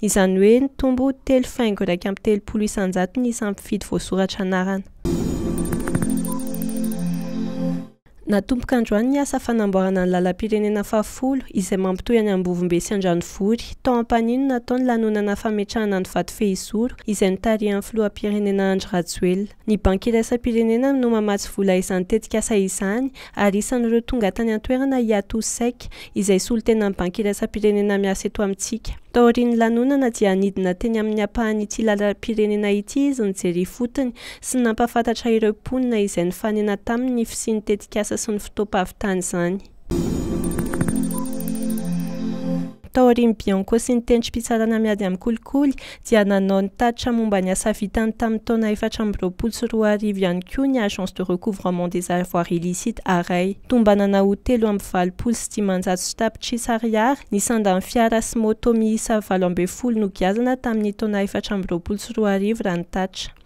Izany hoe nitombo telo faingo iraika amby telopolo isan-jato ny isan'ny mpifidy voasoratra anarana. Natomboka androany ny asa fanamboarana ny lalam-pirenena fahafolo izay mampitohy an'i Ambovombe sy Andranovory. Tao Ampanihy no natao ny lanonana fametrahana ny vato fehizoro izay notarihan'ny filoham-pirenena Andry Rajoelina. Ny Banky Iraisam-pirenena no mamatsy vola izany tetikasa izany ary isan'ireo tonga tany an-toerana i Atou Seck, izay solontenan'ny Banky Iraisam-pirenena miasa eto amintsika. Taorian'ny lanonana dia nidina teny amin'ny ampahan'ity lalam-pirenena ity izy nijery ifotony sy nampahafantatra ireo mponina izay nifanena taminy ny fisian'ny tetikasa sy ny fotoam-pahavitan'izany. Taorian'i Bianco sy ny tentim-pitsarana miady amin'ny kolikoly dia nanao ny tatitra momba ny asa vitany tamin'ny taona efatra amby roapolo sy roa arivo ihany koa ny Agence de Recouvrement des Avoirs Illicites, Arai. Tombanana ho telo amby valopolo sy dimanjato sy tapitrisa ariary ny sandan'ny fiara sy moto miisa valo ambin'ny folo nogiazana tamin'ny taona efatra amby roapolo sy roa arivo raha ny tatitra.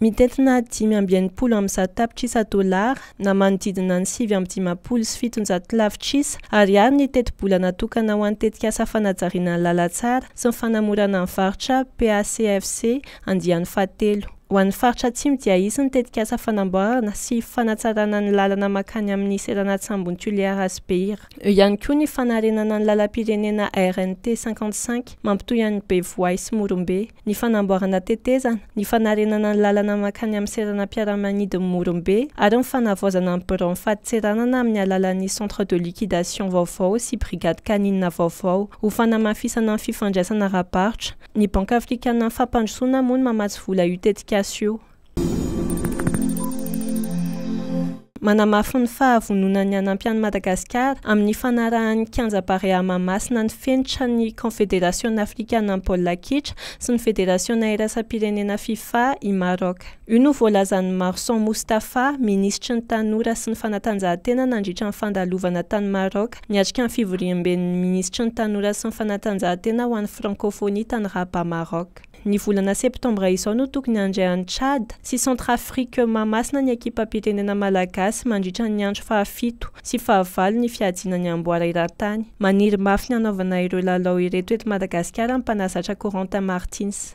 Mitentina dimy amby enimpolo amby zato tapitrisa dolara, na manodidina ny sivy amby dimampolo sy fitonjato lavitrisa ariary ny tetibola natokana ho an'ny tetikasa fanajariana ny lalantsara sy ny fanamorana ny varotra, PACFC, andiany fahatelo. Ho an'ny faritra Atsimo dia hisy ny tetikasa fanamboarana sy fanatsarana ny lalana mankany amin'ny seranan-tsambon'i Tuléar sy Beira. Eo ihany koa ny fanarenana ny lalam-pirenena RNT cinquante cinq mampitohy an'i Bevoay sy Morombe. ny fanamboarana tetezana, ny fanarenana ny lalana mankany amin'ny seranam-piaramanidin'i Morombe ary ny fanavaozana ny biraon'ny fadintseranana amin'ny alalan'ny centre de liquidation vaovao sy brigade canine vaovao. Ho fanamafisana ny fifandraisana ara-barotra, ny Banky afrikanan'ny fampandrosoana moa no mamatsy vola io tetikasa io. Manamafy ny fahavononany hanampy an'i Madagasikara amin'ny fanarahan'ny kianja Barea Mahamasina ny fenitra ny Kaonfederasiona afrikanan'ny baolina kitra sy ny federasiona iraisam-pirenena Fifa i Maroc. Io no voalazan'i Marson Moustapha, minisitry ny Tanora sy ny fanatanjahantena nandritra ny fandalovana tany Maroc niatrika ny fivoriamben'ny minisitry ny Tanora sy ny fanatanjahantena ho an'ny Frankofonia tany Rabat Maroc. Ny volana septambra izao no tokony handray an'i Tchad sy Centrafrique Mahamasina ny ekipam-pitenenana malagasy mandritra ny andro fahafito sy fahavalo ny fihajiana ny amboara eran-tany. Maniry mafy ny hanaovana ireo lalao ireto eto Madagasikara ny mpanazatra Corentin Martins.